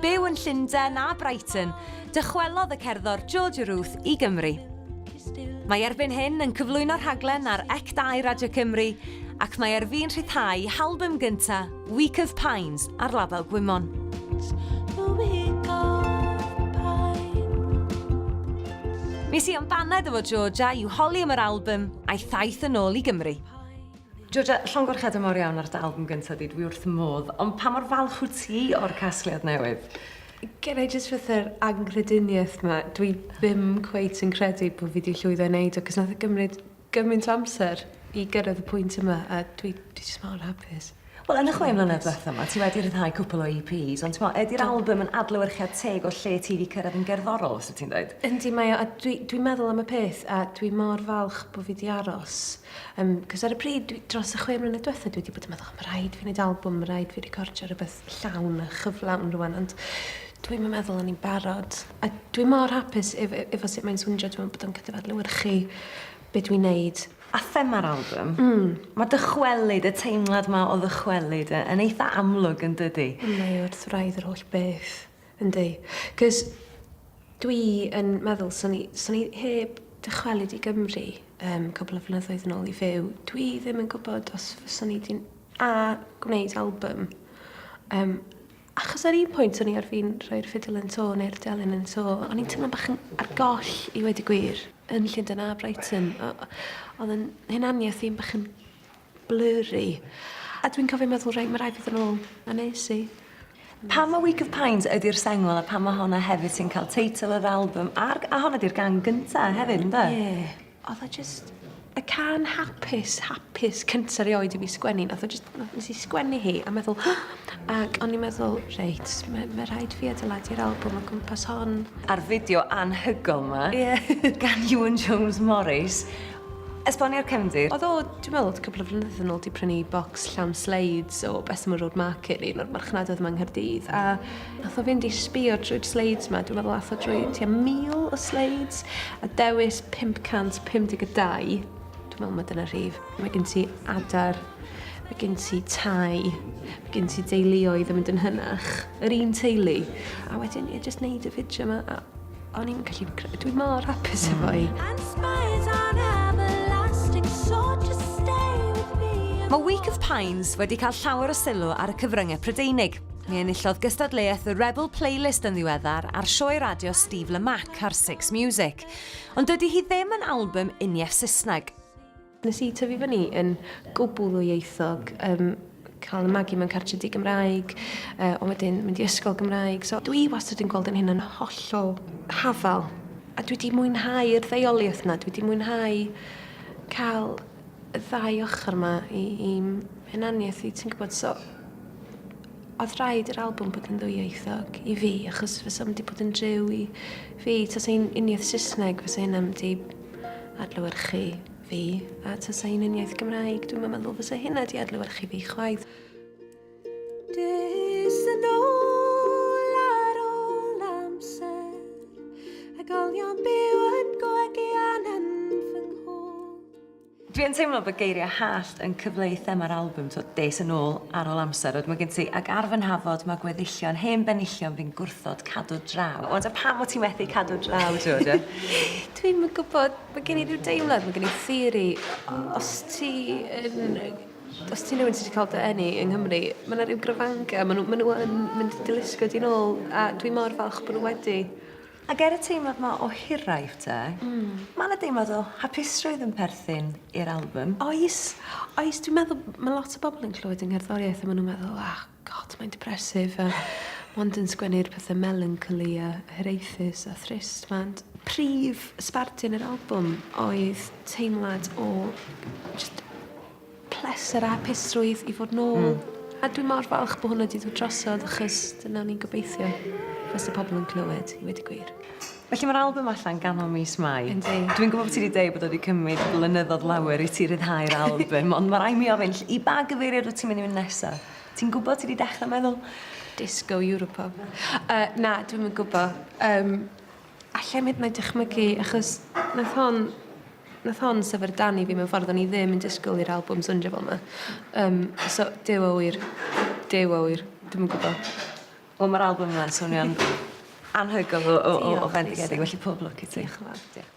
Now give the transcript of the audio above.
Byw yn Llundain a Brighton, dychwelodd y cerddor Georgia Ruth i Gymru. Mae erbyn hyn yn cyflwyno rhaglen ar Ec2 Radio Cymru ac mae ar fin rhyddhau halbym gynta, Week of Pines, ar label Gwymon. Mis Sion baned efo Georgia i'w holi am yr albym a'i thaith yn ôl i Gymru. Georgia, llongyfarchiadau mawr iawn ar dy album gyntaf di, dwi wrth fy modd, ond pa mor falch wyt ti o'r casgliad newydd? Gen i jyst fatha'r anghrediniaeth 'ma, dwi ddim cweit yn credu bo' fi 'di llwyddo i neud o, 'c'os nath o gymryd gymaint o amser i gyrraedd y pwynt yma, a dwi dwi jyst mor hapus. Wel yn y chwe mlynedd dwetha 'ma ti wedi rhyddhau cwpwl o EPs ond t'mo' ydi'r album yn adlewyrchiad teg o lle ti 'di cyrraedd yn gerddorol os wt ti'n deud? Yndi mae o a dwi dwi'n meddwl am y peth a dwi mor falch bo' fi 'di aros Um, cos ar y pryd, dwi, dros y chwe mlynedd diwethaf, dwi wedi bod yn meddwl, mae rhaid fi wneud album, mae rhaid fi recordio rhywbeth llawn a chyflawn rwan, ond dwi'n mynd meddwl o'n i'n barod. A dwi'n mor hapus efo, efo sut mae'n swndio, dwi'n bod yn gallu adlewyrchu beth dwi'n neud. A thema'r album, mm. mae dychwelyd, y teimlad mae o ddychwelyd yn eitha amlwg yn dydy. Mae wrth wraidd yr holl beth. Yndi. Cos dwi yn meddwl swn i swn i heb dychwelyd i Gymru um, cwbl o flynyddoedd yn ôl i fyw, dwi ddim yn gwybod os fyswn i di'n a gwneud album. Um, achos ar un pwynt o'n i ar fin rhoi'r ffidl yn to neu'r delyn yn to, o'n i'n teimlo'n bach yn ar goll i wedi gwir yn Llundain a Brighton. Oedd yn hunaniaeth i'n bach yn Blurry. A dwi'n cofio meddwl reit ma' rai' fi fyn' nôl a nes i. Pam ma' Week of Pines ydi'r sengl a pam ma' honna hefyd sy'n ca'l teitl yr albym a'r g- a honna 'di'r gan gynta hefyd ynde? Ie. Odd o jyst y can hapus hapus cynta rioed i fi sgwennu nath o jyst na- nes i sgwennu hi a meddwl ag o'n i meddwl reit ma' ma' rhaid fi adeiladu'r albwm o gwmpas hon. A'r fideo anhygoel 'ma. Ie. Gan Iwan Jones Morris Esboni'r cefndir. Oedd o, dwi'n meddwl, cwpl o flynyddoedd yn ôl 'di prynu bocs llawn sleids o Bessemer Road Market i un o'r marchnadoedd yma yng Nghaerdydd, a nath o fynd i sbio drwy'r sleids 'ma, dwi'n meddwl nath o drwy tua 1,000 o sleids, a dewis 552. Dwi'n meddwl mai dyna'r rhif. Mae gen ti adar, mae gen ti tai, mae gen ti deuluoedd yn mynd yn hynach, yr un teulu. A wedyn, ie, jyst neud y fideo 'ma a O'n i'n gallu... Dwi mor hapus efo i. Mae Week of Pines wedi cael llawer o sylw ar y cyfryngau Prydeinig. Mi enillodd gystadleuaeth y Rebel Playlist yn ddiweddar a'r sioe radio Steve Lamack ar Six Music. Ond dydy hi ddim yn album uniaith Saesneg. Nes i tyfu fyny yn gwbl ddwyieithog, um, cael y magu mewn cartre di Gymraeg, uh, ond wedyn mynd i ysgol Gymraeg. So dwi wastad yn gweld yn hyn yn hollol hafal. A dwi wedi mwynhau yr ddeioliaeth yna, dwi wedi mwynhau cael y ddau ochr yma i, i'n hunaniaeth i, ti'n gwybod, so Oedd rhaid yr albwm bod yn ddwyieithog i fi achos fysa mynd i bod yn driw i fi. Tas ein uniaith Saesneg fysa hynna mynd i adlewyrchu fi a tas ein uniaith Gymraeg dwi'n yn meddwl fysa hynna di adlewyrchu fi chwaith. Dys yn ôl ar ôl amser a golion byw yn gwegi an yn fy nghôl. Dwi yn teimlo bod geiriau hallt yn cyfleu thema'r albwm, t'wod, des yn ôl ar ôl amser, ond mae gen ti, ac ar fy nhafod mae gweddillion, hen benillion fi'n gwrthod cadw draw. O, ta pam wyt ti methu cadw draw, t'wod, ie? Dwi'm yn gwybod, mae gen i ryw deimlad, mae gen i theori, os ti yn, os ti'n rhywun sydd wedi cael dy eni yng Nghymru, mae yna ryw grafangau, maen nhw, maen nhw yn mynd i dy lusgo di nôl, a dwi mor falch bod nhw wedi. Ac er y teimlad 'ma o hiraeth te, ma' 'na deimlad o hapusrwydd yn perthyn i'r albym. Oes, oes. Dwi'n meddwl ma' lot o bobol yn clywed 'yng ngherddoriaeth a ma' nw'n meddwl oh God mae'n depressif a mond yn sgwennu'r pethe melancholy a hiraethus a thrist 'ma ond prif sbardun yr albwm oedd teimlad o jyst pleser a hapusrwydd i fod nôl. Hmm. A dwi mor falch bod hwnna wedi dod drosodd achos dyna o'n i'n gobeithio fys y pobl yn clywed, i wedi gwir. Felly mae'r album allan ganol mis Mai. Yndi. Dwi'n gwybod bod ti wedi dweud bod wedi cymryd blynyddoedd lawer i ti ryddhau'r album, ond mae rai mi ofyn, i ba gyfeiriad wyt ti'n mynd i fynd nesaf? Ti'n gwybod ti wedi dechrau meddwl? Disco Europop. Uh, na, dwi'n mynd gwybod. Um, Allai'm hyd yn oed dychmygu achos nath hon nath hon syfrdanu fi mewn ffordd o'n i ddim yn disgwl i'r albwm sowndio fel 'ma. Yym so Duw a ŵyr. Duw a ŵyr. Dwi'm yn gwbo. Wel ma'r albwm yma'n swnio'n anhygoel o o o o fendigedig felly pob lwc i ti. Dioch y' fawr. Diolch.